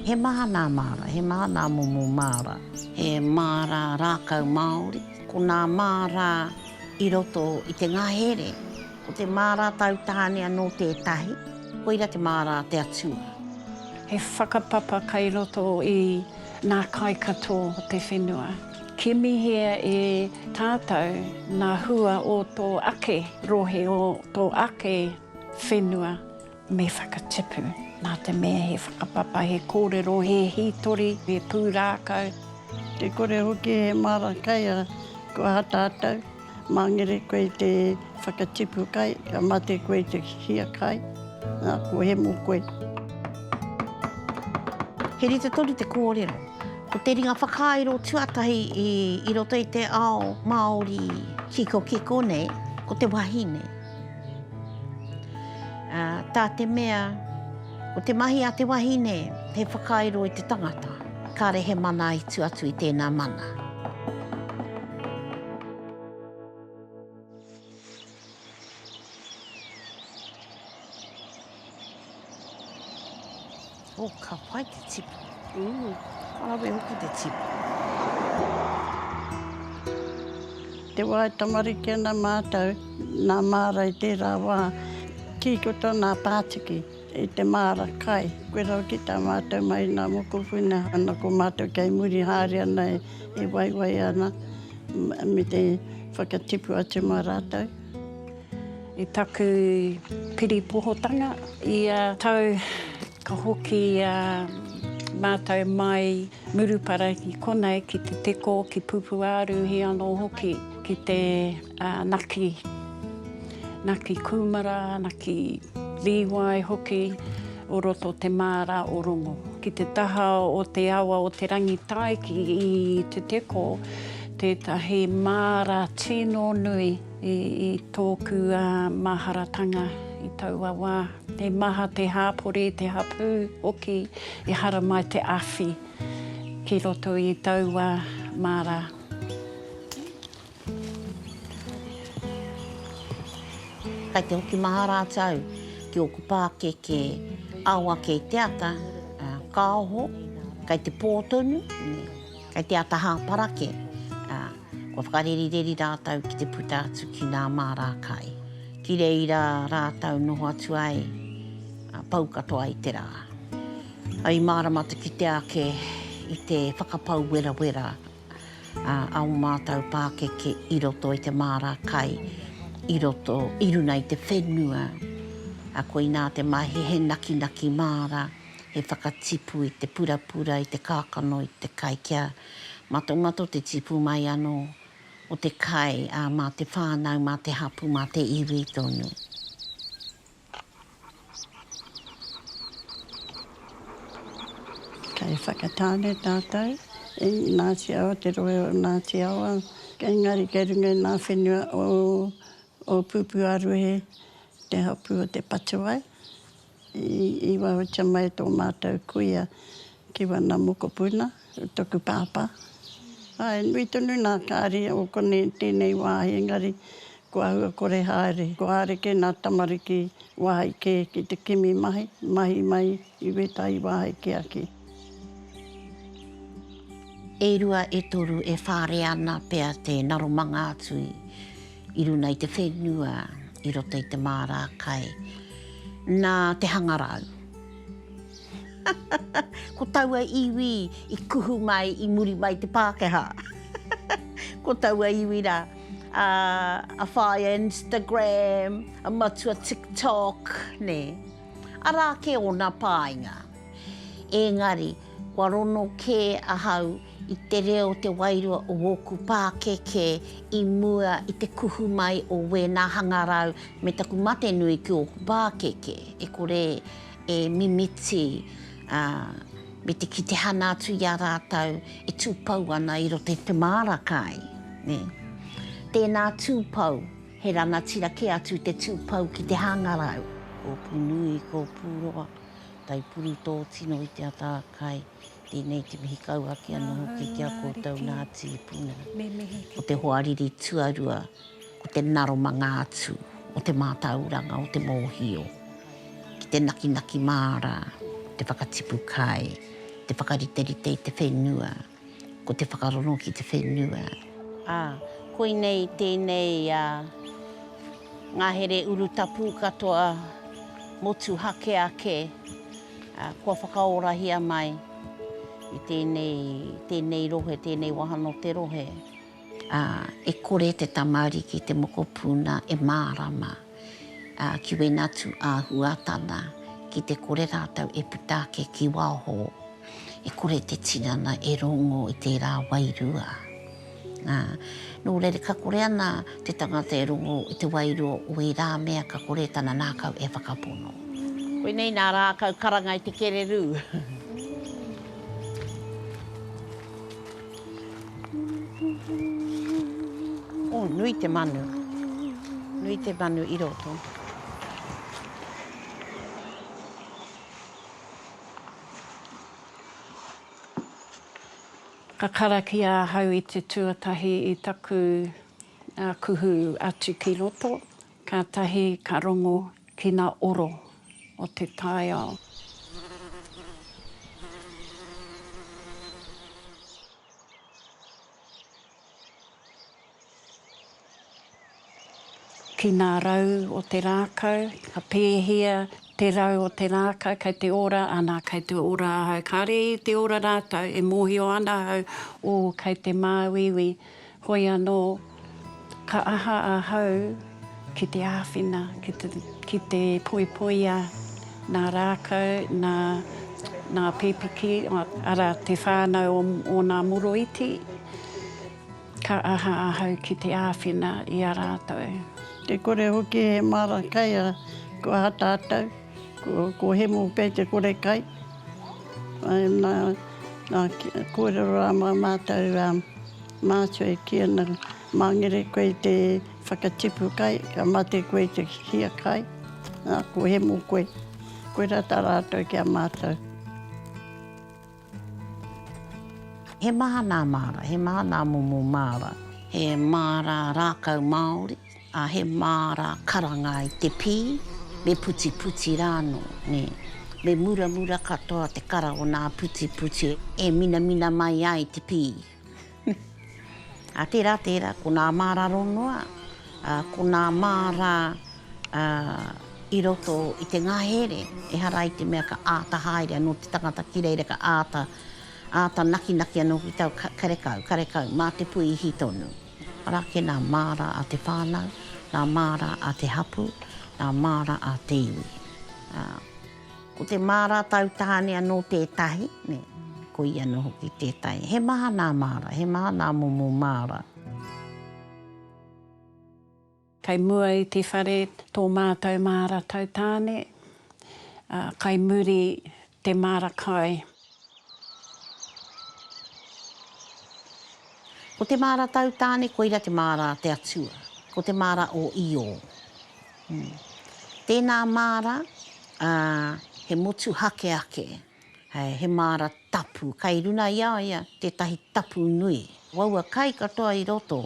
He maha nā māra, he maha nā momo māra. He māra rākau Māori. Ko nā māra i roto i te ngahere. Ko te māra tautāne anō tētahi, koira te māra a te Atua. He whakapapa kei roto i nā kai katoa o te whenua. Kimihia e tātou ngā hua o tō ake rohe, o tō ake whenua. Me whakatipu, nā te mea he whakapapa, he kōrero, he hītori, he pūrākau. Te kore hoki he māra kai a kua tātou. Mangere koe i te whakatipu kai, ka mate koe i te hia kai, nā, kua hemo koe. He rite tonu te kōrero. Ko te ringa whakairo tuatahi i roto i te ao Māori kikokiko nei, ko te wahine. Tā te mea. Ko te mahi a te wahine, he whakairo i te tangata. Kāre he mana i tu atu i tēnā mana. Oh, ka pai te tipu. Te wā e tamariki ana mātou, nā māra i tērā wā, kī ko tōna pātiki i te māra kai, koe rau ki tā mātou mai nā mokopuna, ana ko mātou kei muri haere ana e waiwai ana me te whakatipu atu mā rātou. I taku piripohotanga ia tau Ka hoki a mātou mai Murupara ki konei, ki Te Teko, ki Pupuāruhi anō hoki, ki te Naki, Naki Kūmara, Naki Līwai hoki o roto o te māra o Rongo. Ki te taha o te awa o Te Rangitaiki i Te Teko, tētahi māra tino nui. I tōku maharatanga i taua wā, he maha te hāpori, te hapū hoki, ehara mai te awhi ki roto i taua māra. Kai te hoki maha rātou ki ōku pākeke ao ake i te ata, kāoho, kai te pō tonu, kai te ata hāparake. Kua whakarerireri rātou ki te puta atu ki nā māra kai. Ki reira rātou noho atu ai, ā, pau katoa i te rā. Ā, i mārama te kite ake i te whakapau werawera, ā, a ō mātou pākeke i roto i te māra kai, i roto, i runa i te whenua. Ā, koinā te mahi, he nakinaki māra, he whakatipu i te purapura, i te kākano, i te kai kia. Matomato te tipu mai anō o te kai, ā, mā te whānau, mā te hapū, mā te iwi tonu. Kei Whakatāne tātou, i Ngāti Awa, te rohe o Ngāti Awa, engari kei runga i ngā whenua o O Pupuaruhe te hapū o Te Patawai. I waiotia mai tō mātou kuia ki wana mokopuna, toku pāpā. Āe, nui tonu nā Kāri o konei i tēnei wāhi engari ko ahua kore haere. Ko Areke nā tamariki wāhi kē ki te kimi mahi, mahi mai i wētahi wāhi kē ake. E rua, e toru, e whare ana pea te naromanga atu i runa i te whenua i roto i te māra kai. Nā te hangarau. Ko taua iwi i kuhu mai i muri mai te Pākehā. Ko taua iwi rā, a, a whāia Instagram, a matua TikTok, nē. Arā kē ōna pāinga. Engari, kua rono kē ahau i te reo o te wairua o wōku pākekē i mua i te kuhu mai o wēnā hangarau me taku mate nui ki ōku pākeke, e kore e mimiti, ā, me te ki te hana atu i a rātou e tūpou ana i roto i te māra kai, nē. Tēnā tūpou, he rangatira kē atu te tūpou ki te hangarau. Kōpū nui, kōpū roa, Taipuru tō tino i te ata a Kai, tēnei te mihi kau ake anō hoki ki a koutou nā tīpuna. Ko te hoariri tuarua, ko te naromanga atu o te mātauranga o te mōhio, ki te nakinaki māra, te whakatipu kai, te whakariterite i te whenua. Ko te whakarongo ki te whenua. Ā, koinei tēnei a ngahere urutapu katoa motuhake ake kua whakaorahia mai i tēnei, tēnei rohe, tēnei wāhanga o te rohe. Ā, e kore te tamariki, te mokopuna, e mārama, ā, ki wēnā atu āhuatanga, ki te kore rātou e puta ake ki waho, e kore te tinana e rongo i tērā wairua. Ā, nō reira, ka kore ana te tangata e rongo i te wairua o ērā mea ka kore tana ngākau e whakapono. Koinei nā rākau karanga i te kererū. Oh, nui te manu. Nui te manu i roto. Ka karakia ahau i te tuatahi i taku kuhu atu ki roto. Kātahi ka rongo ki ngā oro o te taiao. Ki ngā rau o te rākau, ka pēhia te rau o te rākau, kei te ora, ana, kei te ora ahau. Kāre i te ora rātou, e mōhio ana ahau, ō, kei te māuiui, Hoi anō, ka aha ahau ki te āwhina, ki te poipoia nā rākau, nā Pepiki, arā, te whānau o ōna moroiti, ka aha ahau ki te āwhina i a rātou? Te kore hoki he māra kai a Tātou, ko Hemo pea te kore kai. Nā, nā, kōrero rā mā mātou, Mātua e kī ana, Mā ngere koe i te whakatipu kai, ka mate koe i te hia kai, ā, kua hemo koe. Koirā tā rātou ki a mātou. He maha nā māra, he maha nā momo māra. He māra rākau māori. Ā, he māra karanga i te pī, me putiputi rā anō, nē. Me muramura katoa te kara o nā putiputi e minamina mai ai te pī. Ā, tērā, tērā, ko nā māra rongoa, ā, ko nā māra, ā, i roto i te ngahere, ehara i te mea ka āta haere anō te tangata ki reira, ka āta, āta nakinaki anō ki tāu karekau, karekau, mā te puihi tonu. Araki nā māra a te whānau, nā māra a te hapū, nā māra a te iwi. Ā. Ko te māra tau tāne anō tētahi, nē, ko ia anō hoki tētahi. He maha nā māra, he maha nā momo māra. Kai mua i te whare tō mātou māra tautāne, ā, kai muri te māra kai. Ko te māra tautāne koira te māra a te Atua, ko te māra o Io. Tēnā māra, ā, he motuhake ake. He māra tapu, kai runa i a ia tētahi tapu nui. Waua kai katoa i roto,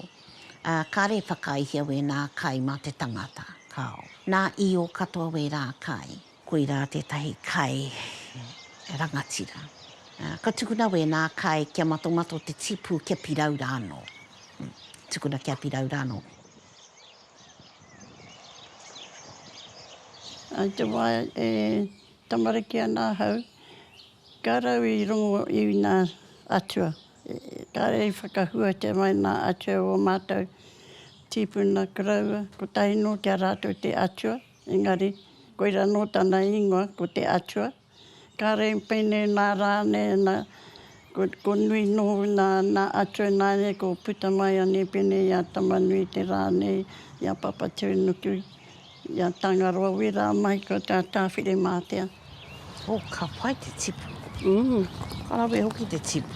ā, kare whakaihia wēnā kai mā te tangata, kāo. Nā Io katoa wērā kai. Koirā tētahi kai rangatira. Ka tukuna wēnā kai kia matomato te tipu kia pirau rānō. Tukuna kia pirau rānō. I te wā e. Tamariki ana ahau, ka rau i rongo i nā atua. Kāre i whakahuatia mai nā atua o ō mātou tīpuna koroua, kotahi nō ki a rātou te atua, engari, koirā nō tana ingoa, ko te atua. Kāre i peine nā rānei ana, ko, ko nui nō nā, nā atua nāianei ko puta mai anei pēnei i a Tamanui te rānei, i a Papatūnuku, I a Tangaroa we ra mai ko ta Tawhirematea. Oh, ka pai te tipu. Mm, ka rawe hoki te tipu.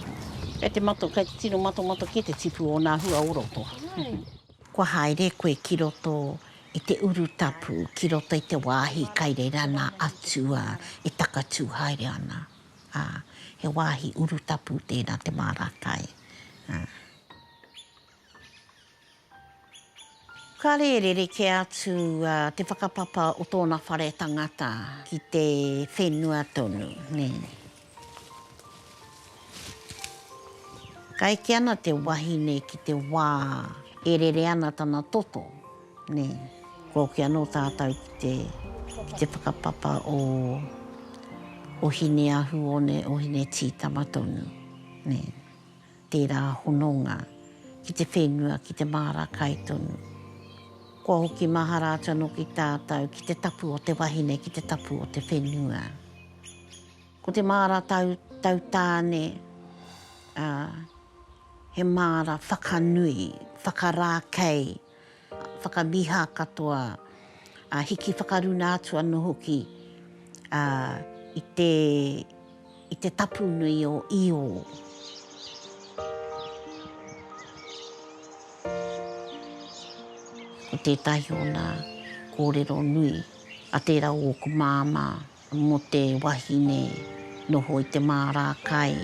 Kei te mato, kei te tino matomato ki te tipu o na hua o roto. Kua haere koe ki roto i te urutapu, ki roto i te wāhi kai reira nā Atua e takatū haere ana, ā, he wāhi urutapu tērā te māra kai, ā. Ka rērere kē atu te whakapapa o tōna whare tangata ki te whenua tonu. Ka eke ana te wahine ki te wā e rere ana tana toto, kua hoki anō tātou ki te whakapapa o Hineahuone, o Hinetītama tonu. Tērā hononga ki te whenua, ki te māra kai tonu. Kua hoki mahara atu anō ki tātou, ki te tapu o te wahine, ki te tapu o te whenua. Ko te māra tau, tau tāne, ā, he māra whakanui, whakarākei. whakamiha katoa, ā, hiki whakaruna atu anō hoki ā, i te, i te tapu nui o Iō. Ko tētahi o nā kōrero nui a tērā o ōku māmā. Mō te wahine noho i te mārā kai,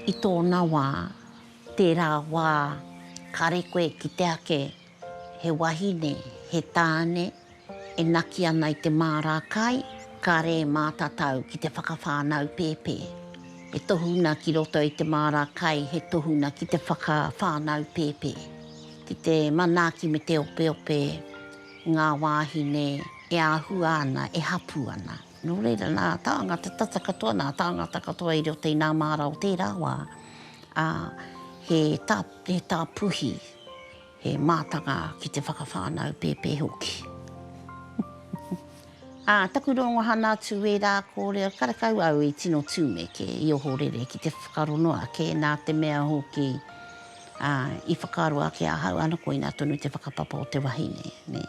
i tōna wā, tērā wā, kāre koe e kite ake he wahine, he tāne e naki ana i te mārā kai, kāre e mātatau ki te whakawhānau pēpē. He tohunga ki roto i te mārā kai, he tohunga ki te whakawhānau pēpē. Ki te manaaki me te opeope ngā wāhine. E āhua ana, e hapū ana. Nō reira, nā tāngata tata katoa, nā tāngata katoa i roto i nā māra o tērā wā, ā, he tā, he tā puhi, he mātanga ki te whakawhānau pēpē hoki. Ā, taku rongohana atu ērā kōrero karekau au i tino tūmeke, i ohorere ki te whakarongo ake, nā te mea hoki, ā, i whakaaro ake ahau, āna koinā tonu te whakapapa o te wahine, nē.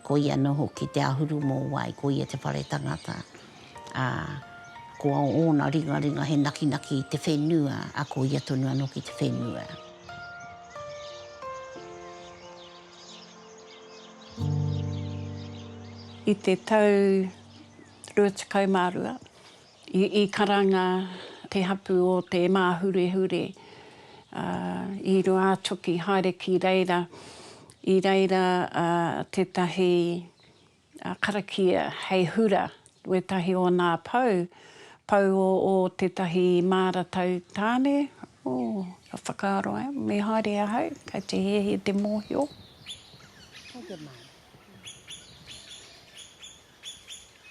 Ko ia anō hoki te āhuru mōwai, ko ia te whare tangata, ā, ko ōna ringaringa he nakinaki i te whenua, ā, ko ia tonu anō ki te whenua. I te tau 22, I karanga te hapu o te māhurehure i Ruātoki haere ki reira, i reira tētahi karakia hei hura, wētahi o nā pou, pou o tētahi māratau tāne, oh, ka whakaaro ai, me haere ahau, kei te hehe te mōhio.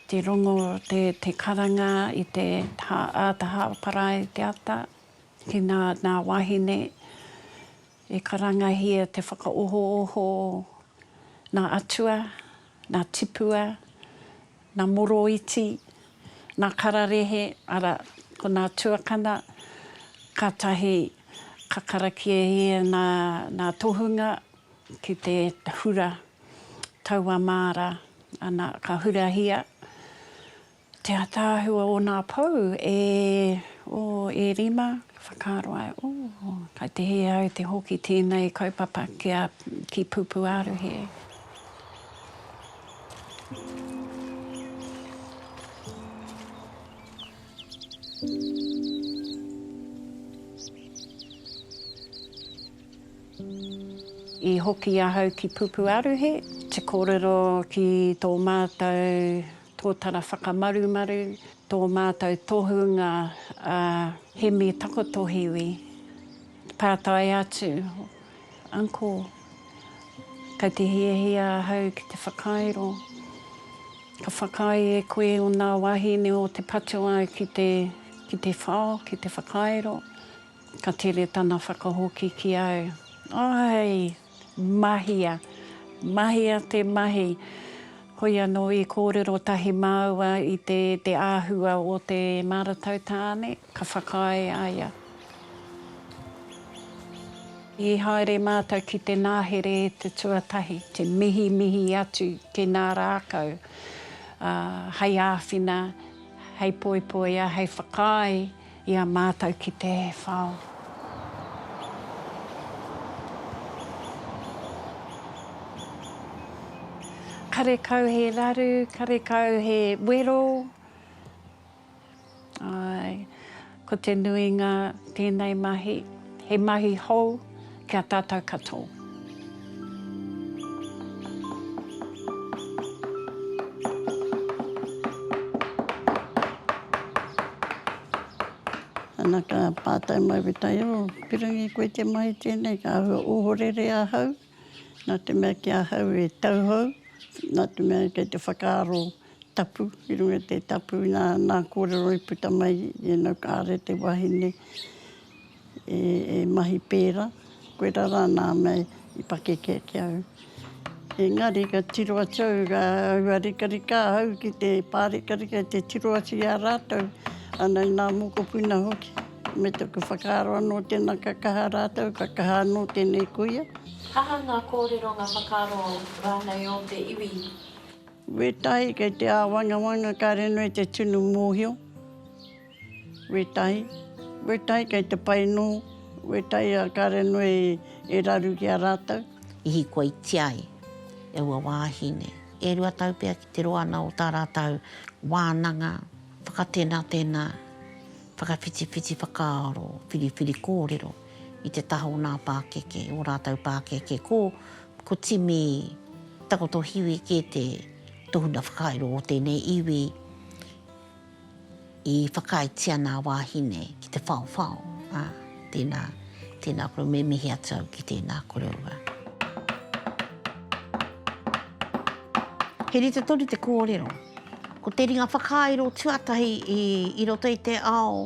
Te rongo, te karanga i te taha parae i te ata, ki nā nā wāhine e karangahia te whakaohooho nā atua, nā tipua, nā moroiti, nā kararehe, ara, ko nā tuakana, kātahi ka karakiehia nā tohunga, ki te hura taua māra, ana, ka hurahia te ataahua o nā pou e, oh, e rima, ka whakaaro ai, oh, kai te hē au te hoki tēnei kaupapa ki a, ki Pupuaruhe. I hoki ahau ki Pupuaruhe. Te kōrero ki tō mātou tōtara whakamarumaru, tō mātou tohunga a Hemi Takotohiwi. Pātai atu, Uncle, kei te hiahia ahau ki te whakairo. Ka whakaae e koe o nā wāhine o te patoa ki te whao, ki te whakairo, Ka tere tana whakahoki ki au, Ae! Mahia! Mahia te mahi! Hoi anō i kōrero tahi māua i te te āhua o te maratau tāne, ka whakaae a ia. I haere mātou ki te nāhere e te tuatahi, te mihimihi atu ki nā rākau, ā, hei āwhina, hei poipoia, hei whakaae. I a mātou ki te whao. Karekau he raru, karekau he wero. Āe, ko te nuinga tēnei mahi, he mahi hou. Ki a tātou katoa. Ana ka pātai mai Wetaia, o pirangi koe te mahi tēnei, ka ahua ohorere ahau, nā te mea ki ahau e tauhou, nā te mea kei te whakaaro tapu, ki runga i te tapu nā, nā kōrero i puta mai, you know, kāre te wahine. e mahi pērā, koirā rā nā mea i pakeke ake au. Engari ka tiro atu au rā ua rikarika ahau ki te pārikarika i te tiro atu i a rātou, ana i nā mokopuna hoki. Me taku whakaaro anō tēnā ka kaha rātou, ka kaha anō tēnei kuia. Aha ngā kōrero, ngā whakaaro rānei o te iwi? Wētahi kei te āwangawanga, kāre noa i te tunu mōhio. Wetai, wetai kei te pai nō, wetai a Karenue e raru ki a rātou. I hikoitia ai e ua wāhine. E rua tau pea ki te roa ana o tā rātou wānanga whakatenatena, whakawhitiwhiti whakaaro, whiriwhiri kōrero i te taha o nā pākeke, ō rātou pākeke. Ko, ko Timi Takotohiwi kē te tohunga whakairo o tēnei iwi. i whakaaetia nā wāhine ki te whaowhao, ā, tēnā, tēnā kouou, me mihi atu au ki tēnā kouou rā. He rite tonu te kōrero. Ko te ringa whakairo tuatahi i, i roto i te ao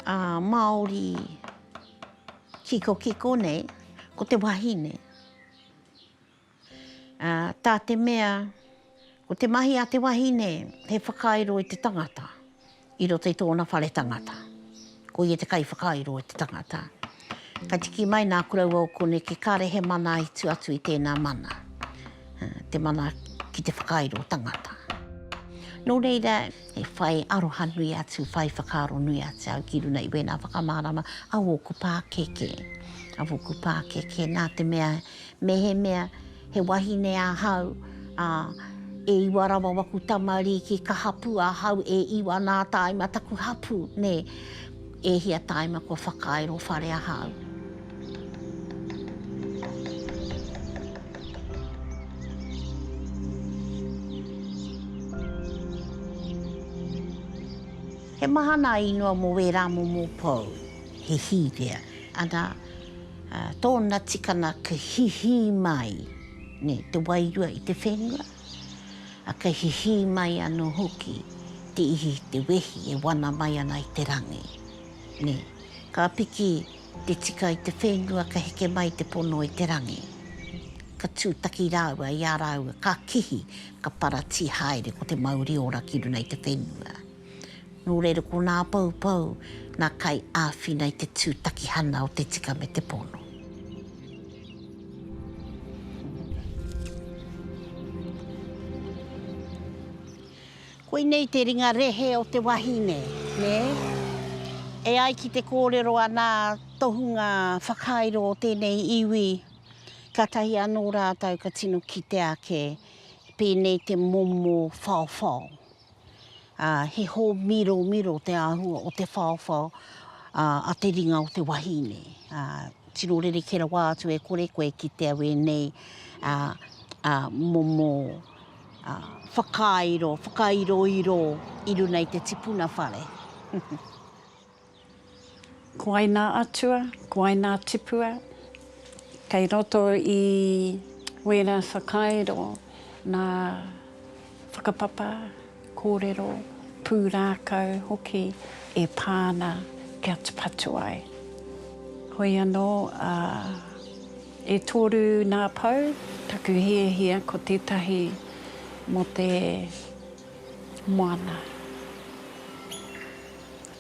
ā, Māori kikokiko nei, ko te wahine. tā te mea ko te mahi a te wahine he whakairo i te tangata i roto i tōna whare tangata. Ko ia te kaiwhakairo i te tangata. Ka tiki mai nā kuraua o Koneke kāre he mana i tu atu i tēnā mana, te mana ki te whakairo tangata. Nō reira, he whai aroha nui atu, whai whakaaro nui atu au ki runga i wēnā whakamārama a wōku pākeke, a wōku pākeke nā te mea Mehemea he wahine ahau, ā, e iwa rawa waku tamarīki ka hapū ahau e iwa nā tāima taku hapū, nē, e hia tāima kua whakairo whare ahau. He maha nā ingoa mō wērā momo pou, he hīwea, ana, Tōna tikanga ka hihī mai te wairua i te whenua, a ka hihī mai anō hoki te ihi i te wehi e wana mai ana i te rangi. Ka piki te tika i te whenua ka heke mai te pono i te rangi, ka tūtaki rāua i a rāua ka kihi ka paratī haere ko te mauri ora ki runa i te whenua. Nō reira ko nā Poupou nā kai āwhina i te tūtakihana o te tika me te pono. Koinei te ringa rehe o te wahine, nē? E ai ki te kōrero a nā tohunga whakairo o tēnei iwi, kātahi anō rātou ka tino kite ake pēnei te momo whaowhao. ā, he hōmiromiro te āhua o te whaowhao a te ringa o te wahine. Ā, tino rerekē rawa atu e kore koe e kitea wēnei momo whakairo, whakairoiro i runa i te tipuna whare. Ko wai nā atua, ko wai nā tipua kei roto i wērā whakairo nā whakapapa, kōrero, pūrākau hoki e pā ana kia tapatu ai. Hoi anō, ā, e toru nā pou taku hiahia ko tētahi mō te moana.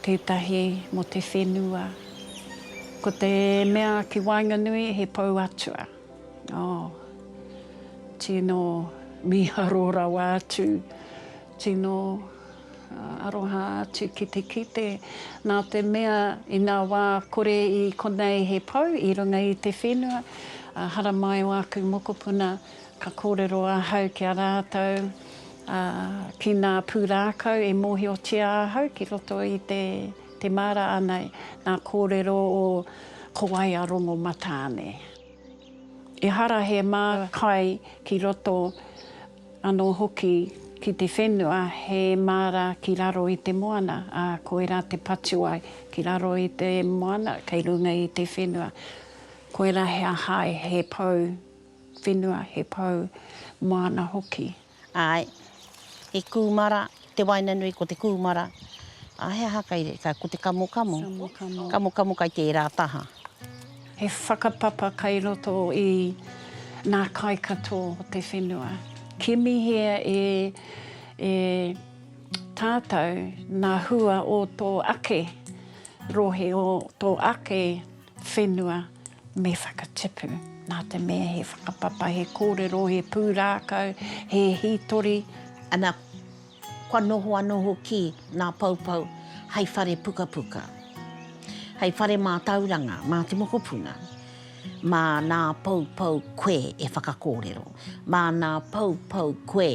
Tētahi mō te whenua. Ko te mea ki waenganui he pou atua. Oh. Tino miharo rawa atu. Tino aroha atu ki te kite. Nā te mea inā wā kore i konei he pou i runga i te whenua, haramai o aku mokopuna, Ka kōrero ahau ki a rātou, ā, ki nā pūrākau e mōhiotia ahau ki roto i te, te māra ānei, nā kōrero o Kowaia Rongomatāne. Ehara he mā kai ki roto anō hoki ki te whenua, he māra ki raro i te moana, ā, koirā te patuai ki raro i te moana kei runga i te whenua. Koirā he ahae, he pou whenua, he pou māna hoki. Āe, he kūmara, te waenganui ko te kūmara. Ā, he aha kai reira? Ko te kamokamo. Kamokamo. Kamokamo kai tērā taha. He whakapapa kai roto i nā kai katoa o te whenua. Kimihia e, e tātou nā hua o tō ake rohe, o tō ake. Whenua me whakatipu. Nā te mea he whakapapa, he kōrero, he pūrākau, he hītori. Ana, kua noho anō hoki nā Poupou hai whare pukapuka, hai whare mātauranga mā te mokopuna. Mā nā Poupou koe e whakakōrero, mā nā Poupou koe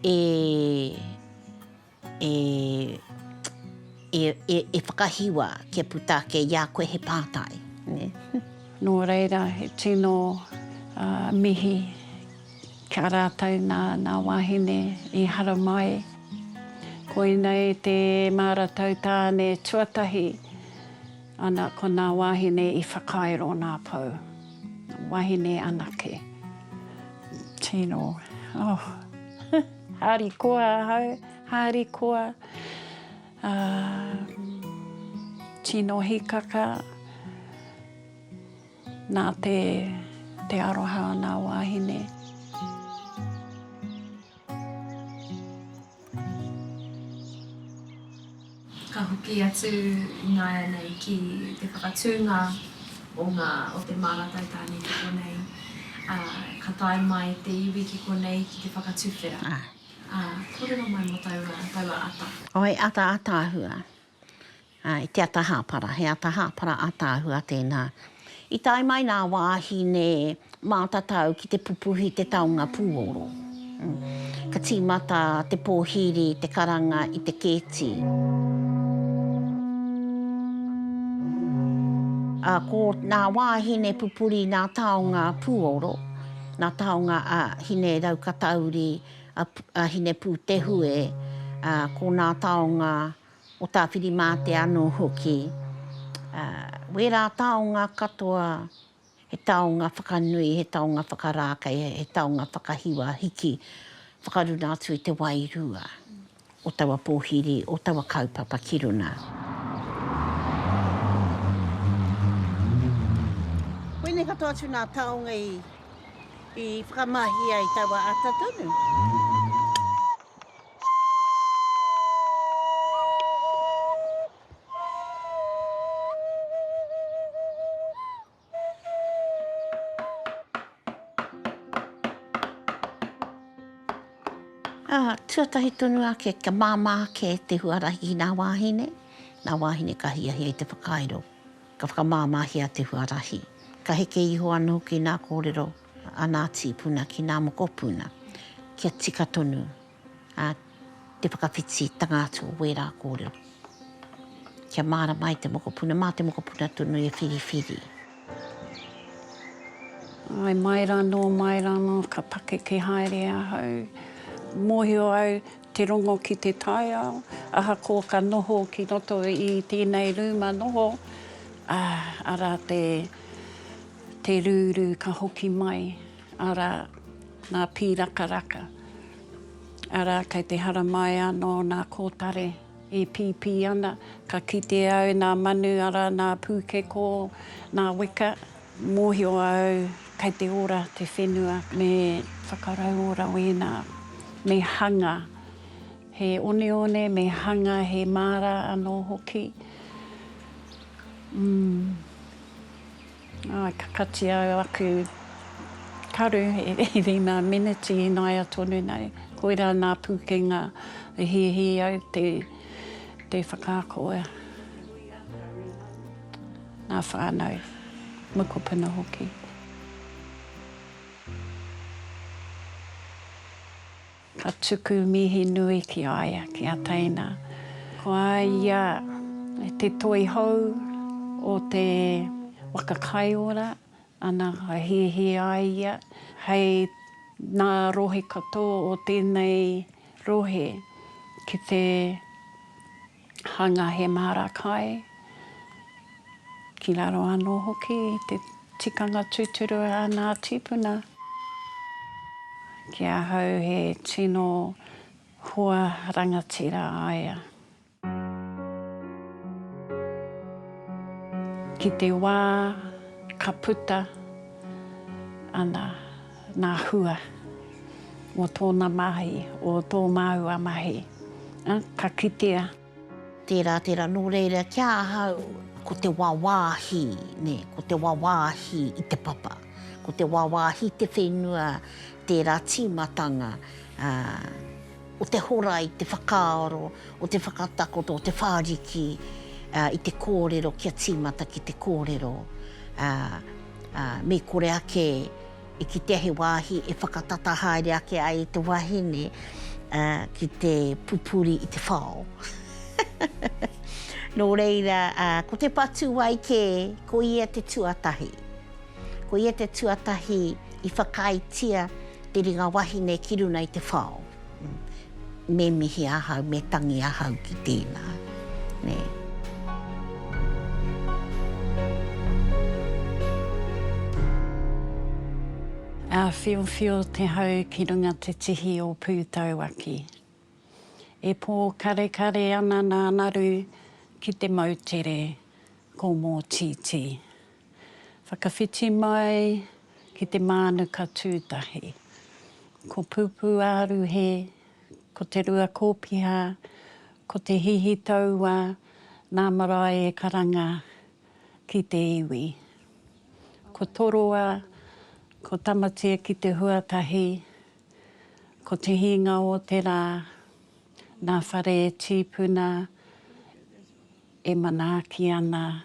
e. E, e, e, e whakahiwa kia puta ake i a koe he pātai, nē. Nō reira, he tino uh, mihi ki a rātou nā, nā wāhine i haramai. Koinei te māratau tāne tuatahi, ana ko nā wāhine i whakairo nā pou. Wāhine anake. Tino, oh. Harikoa ahau, harikoa, ā, tino hīkaka nā te aroha o nā wāhine. Ka hoki atu ināianei ki te whakatūnga o ngā o te māratai tāne ki konei, ā, ka tae mai te iwi ki konei ki te whakatuwhera, ā, kōrero mai mō taua, taua ata. Oh, he ata ātaahua. Ā, i te ata hāpara, he ata hāpara ātaahua tēnā, I tae mai nā wāhine mātatau ki te pupuhi te taonga pūoro. Ka tīmata te pōhiri, te karanga i te kēti. Ā, ko nā wāhine pupuri nā taonga pūoro, nā taonga a Hine-rau-katauri, a Hine-pūtehue, ā, ko nā taonga. o Tāwhirimātea anō hoki, ā, wērā taonga katoa, he taonga whakanui, he taonga whakarākei, he taonga whakahiwa hiki, whakaruna atu i te wairua o taua pōhiri, o taua kaupapa ki runga. Koinei katoa atu nā taonga i, i whakamahia i taua ata tonu. Tuatahi tonu ake, kia māmā ake te huarahi ki ngā wāhine, ngā wāhine ka hiahia i te whakairo, ka whakamāmāhia te huarahi. Ka heke iho anō hoki ngā kōrero a ngā tīpuna ki ngā mokopuna kia tika tonu te whakawhititanga atu o wērā kōrero. Kia mārama ai te mokopuna, mā te mokopuna tonu e whiriwhiri. Āe, mai rānō, mai rānō, ka pakeke haere ahau. Mōhio au te rongo ki te taiao, ahakoa ka noho ki roto i tēnei rūma noho, ā, arā te Te rūrū ka hoki mai, arā, nā Pīrakaraka. Arā, kei te haramai anō nā Kōtare, e pīpī ana, ka kite au nā Manu, arā, nā Pūkekō, nā Weka, mōhio au kei te ora te whenua. Me whakarauora wēnā, me hanga he oneone, me hanga he māra anō hoki. Umm. Āe, ka katia aku karu i rima miniti ināia tonu nei. Koirā nā Pūkenga i hīhī au te whakaako ea. Nā whānau, mokopuna hoki. Ka tuku mihi nui ki a ia, ki a teina. Ko a ia te toi hou o te waka kai ora, ana ka hiahia a ia hei nā rohe katoa o tēnei rohe ki te. hanga he māra kai, ki raro anō hoki i te tikanga tūturu a ngā tīpuna. Ki ahau he tino hua rangatira a ia. Ki te wā ka puta ana. Ngā hua mō tōna mahi, o tō māua mahi, ā, ka kitea. Tērā, tērā, nō reira ki ahau, ko te wāwāhi, nē, ko te wāwāhi i te papa, ko te wāwāhi i te whenua, tērā tīmatanga, ā. o te hora i te whakaaro, o te whakatakoto, o te whāriki i te kōrero kia tīmata ki te kōrero. Me kore ake e kitea he wāhi e whakatata haere ake ai te wahine ki te pupuri i te whao. Nō reira, ko te patu wai kē, ko ia te tuatahi. Ko ia te tuatahi i whakaaetia te ringa wahine ki runa i te whao. Me mihi ahau, me tangi ahau ki tēnā. Nē. Āwhiowhio te hau ki runga te tihi o Pūtauaki. E pōkarekare ana nā Naru ki te moutere ko Mōtītī. Whakawhiti mai ki te mānuka tūtahi. Ko Pūpū Āruhe, ko Te Rua Kōpiha, ko Te Hihi Taua nā marae e karanga ki te iwi. Ko Toroa, ko Tamatea ki te huatahi, ko Te Hinga o te Rā nā Whare Tīpuna e manaaki ana